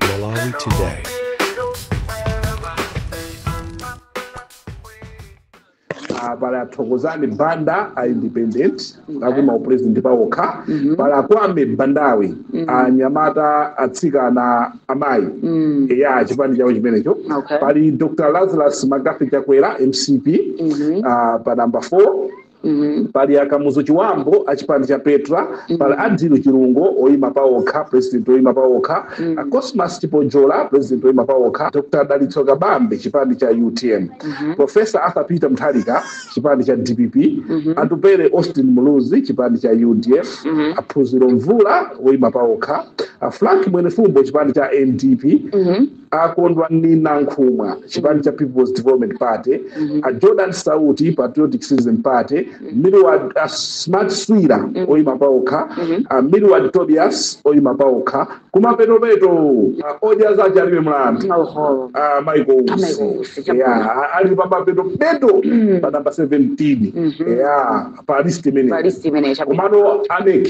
Malawi Today. Ah, pali athokozani banda a independent akuima upresident paokha pali akwame bandawe anyamata atsikana amayi eya chipani chawo chimenecho Okay. pali dr lazarus mccarthy chakwera mcp ah, pa namba 4 Mhm. pali akamuzu chibambo achipani cha petra pali adil chilungo oyima paokha president oyima paokha a cosmas chipojola president oyima paokha dr dalitso kabambe chipani cha utm professor arthur peter mutharika chipani cha dpp atupele austin muluzi chipani cha udf aphunziro mvula oyima paokha a frank mwenifumbo chipani cha ndp akondwani nankhumwa chipani cha people's development party a jordan sauti patriotic citizen party milward a smart swira oyima paokha a milward tobias oyima paokha kumapetopeto a odya zace alibe mlandu Oho. a michael Michael usi Usi, chabwino. ya ali pamapetopeto pa namba 17 ya pa list imeneyi Pa list imene chabwino. komano a mec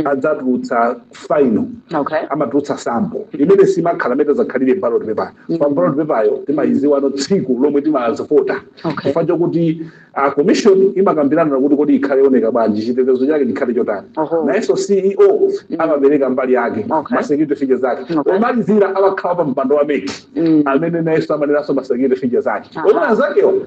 adzatulutsa final okay. amatulutsa sample imene simakhala mmene itazakhalire ballot paper mm. pa ballot paper yo timayiziwano tsiku lomwe timazivota okay. chifukwa chokuti a commission imakambirana kuti kodi ikhale yooneka bwanji chitetezo chake chikhale chotani Oho. nayenso ceo mm. amapereka mbali yake Okay. ma security feature zake Okay. omalizira amakhala wapampando wa mec Mm. amene nayenso amanenanso ma security feature zake Aha. omwe anzakewo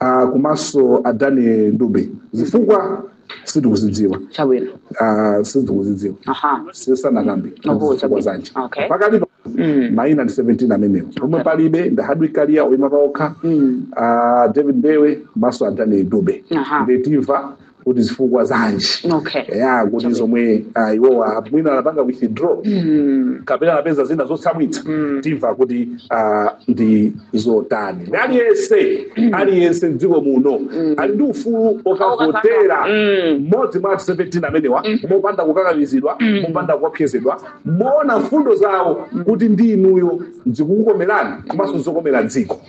ah, komanso a daniel dube zifukwa sitikuzidziwa chabwino Ah, sitikuzidziwa aha sisanakambe Oho, zifukwa zanje okay. pakati pa Mm. maina ndi 17 amenewo omwe palibe ndi a hardwick kaliya oyima paokha Mm. ah, david mbewe komanso a daniel dube Aha. nde timva kuti zifukwa zanji Okay. ya kuti zomwe ah, iwowa mwina anapanga withdraw Mm. kapena anapeza zina zotsamwitsa Mm. timva kuti ah, ndi zotani ndi aliyense aliyense mdziko muno ali ndi ufulu okavotera Mm. mmodzi mwa 17 amenewa mopanda kukakamizidwa mopanda kuopsezedwa moona mfundo zawo kuti ndi inuyo zikukukomerani komanso zokomera dziko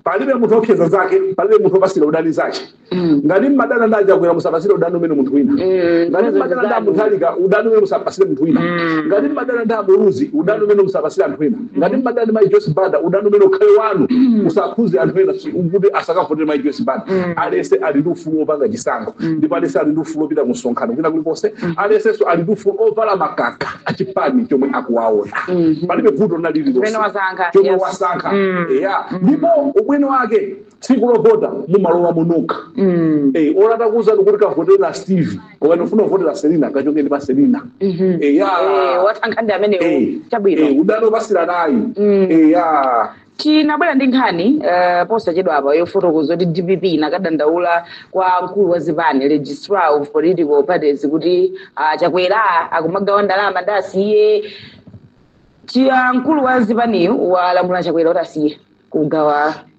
palibe munthu oopseza nzake palibe munthu opasira udani nzake Mm. ngati mmadana ndi achakwera musapasire udani umene munthu wina Mm, ngati zozo mmadana ndi zanu. amutharika udani umene musapasire munthu wina Mm. ngati mmadana ndi amuluzi udani umene musapasire anthu ena ngati mmadana ndi mai joyce banda udani umene ukhale wanu musakhuze anthu ena si- kuti asakavotere mai joyce banda aliyense ali ndi ufulu wopanga chisankho ndipo aliyense ali ndi ufulu wopita ku msonkhano kwina kulikonse aliyensenso ali ndi ufulu ovala makaka achipani chomwe akuwaona palibe vuto Umene wasankha, chomwe yes. wasankha Mm. ya ndipo ubwino wake tsiku lovota mumalowa nokha Mm. Eh, olo atakuuzani kuti kavotera steve ukafuna kuvotera selina kachongeni pa selina Mhm. Eh, ya. Eh, wasankha ndi amenewo Eh, eh, chabwino ubwino wopatsiranayi Mm. Eh, ya tinabwera ndi nkhani eh, posachedwa apa yofotokoza kuti dpp inakadandaula kwa mkulu wa zipani registrar of political parties kuti ah, chakwera akumagawa ndalama ndi asiye chiya mkulu wa zipaniyu walamula chakwera kuti asiye kugawa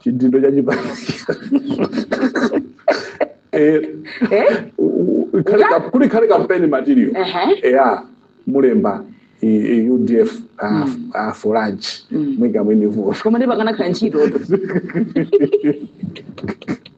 chidindo cha chipani Eh, Eh? u- u- ikhale ka- kuli khale campaign material Ehe. eya mulemba i- i- udf ah, ah, for lunch Mm. mwika mwini vuwa Koma ndi pakana khala ntchito.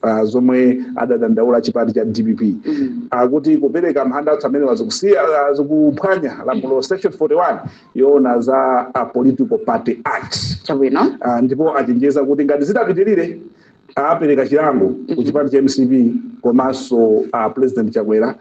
pa zomwe adadandaula chipani cha dpp akuti kupereka mahandouts amenewa zikusiya zikuphwanya lamulo section 41 yoona za a political party act chabwino Ah, ndipo achenjeza kuti ngati zitapitirire apereka chilango ku chipani cha mcp komanso president chakwera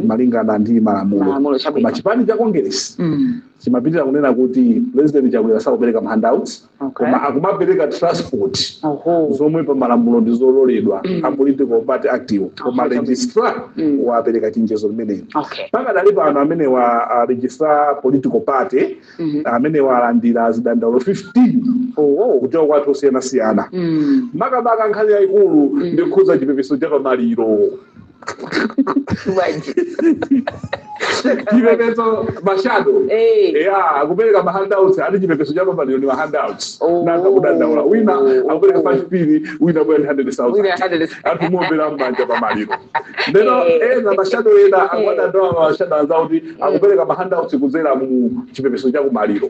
malingana ndi Malamulo, malamulo chabwino. koma chipani cha congress Mm. chimapitiriza kunena kuti president chakwera sakupereka mahandouts Okay. koma akumapereka transport Oho. zomwe pa malamulo ndi zololedwa a political party act koma Aha. registrar Mm. wapereka chenjezo limeneli Okay. pakadali pano amene wa uh, registrar political party Mhm. amene walandira zidandaulo 15 Oho. kuchoka kwa anthu osiyanasiyana Mm. makamaka nkhani yayikulu ndi yokhudza chipepeso cha pamaliro Bwanji. chipepeso mashado Eh. eya akupereka mahandouts ati chipepeso cha pamaliro ndi mahandouts Oh. nanga kudandaula wina akupereka Oh. 5 pin wina bwera 100,000 Wina 100,000. anthu muombera mmanja pamaliro ndeno Eh. ena mashado ena akuwadandaula mashado anzawo kuti akupereka mahandouts kudzera mu chipepeso cha kumaliro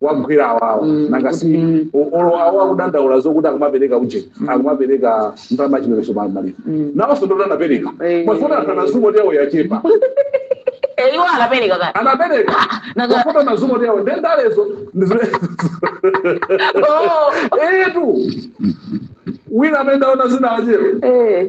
wagwira awawa Mm, nanga kuti- si mm. o- olo awo akudandaula zokuti akumapereka uje akumapereka ndalama chipepeso pa maliro Mm. nawonso ndoti anapereka Eh. mafuta anazumo yawo yachepa Eh, iwo anapereka kale anapereka Nanga- mafuta anazumo ndi awo nde ndalezo ndi zimene- Oh, etu wina amene ndaona zina achero eh,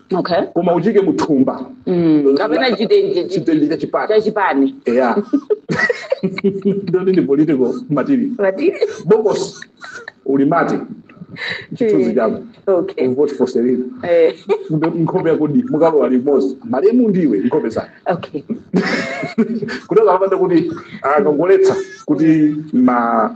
okay koma uchike muthumba Mm, kapena chitenje chi- chitenje cha chipani cha chipani eya ndiyo ndi political material Ati? bokosi ulimate chithunzi chako okay vote for selina Eh, Kumbe nkhope yakodi mukalowa limodzi malemu ndiwe nkhope zake okay kuti akapanda kuti akangoletsa kuti ma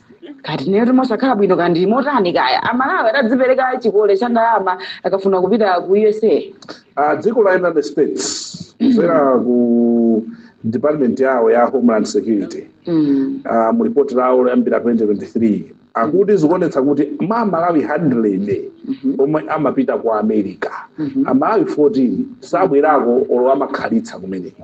kodi ndiye simusakhala bwino kaya ndi motani kaya amalawi adzipereka chikole cha ndalama akafuna kupita ku usa Ah, dziko la united states kudzera ku department yawo ya homeland security mm. ah, mu report lawo loyambira 2023 akuti zikuonetsa kuti mwa amalawi 100 omwe amapita ku america amalawi 14 sabwerako olo amakhalitsa kumeneko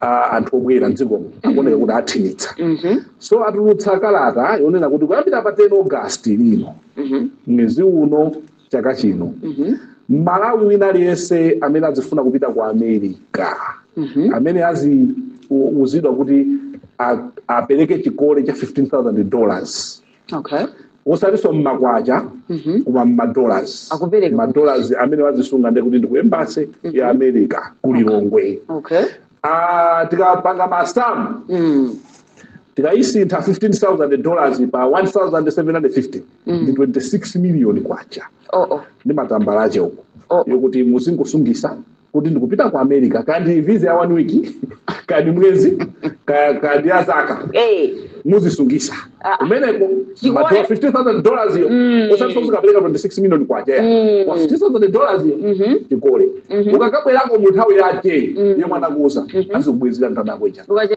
a anthu obwera mdzikomo akuoneka kuti akhwimitsa Mhm. so atulutsa kalata yonena kuti kuyambira pa 10 august lino Mhm. mwezi uno chaka chino Mhm. mmalawi wina aliyense amene azifuna kupita ku america Mhm. amene aziuzidwa kuti a- apereke chikole cha 15000 dollars okay osatinso mmakwacha mhm koma mmadollars Akupereka madollars amene wazisunga ndiye kuti ndi ku embassy ya america ku lilongwe okay Ah, tikapanga masamu mm tikayisintha 15000 dollars pa 1750 ndi 26 million kwacha oh oh ndi matambala ache uko Oh. yokuti muzingosungisa kuti ndikupita ku america kaya ndi visa ya one week kaya ndi mwezi kaya kaya ndi ya zaka Eh, muzisungisa Ah. kumeneko Chikuone- matola 15000 dollars iyo Mm. osati somukapereka 26 million kwacha Mm. koma 15000 dollars iyo mhm. chikole Mhm. ukakabwerako mu nthawi yake Mm. yomwe anakuuza Mhm. azikubwezera ndalama yako ija Ukache-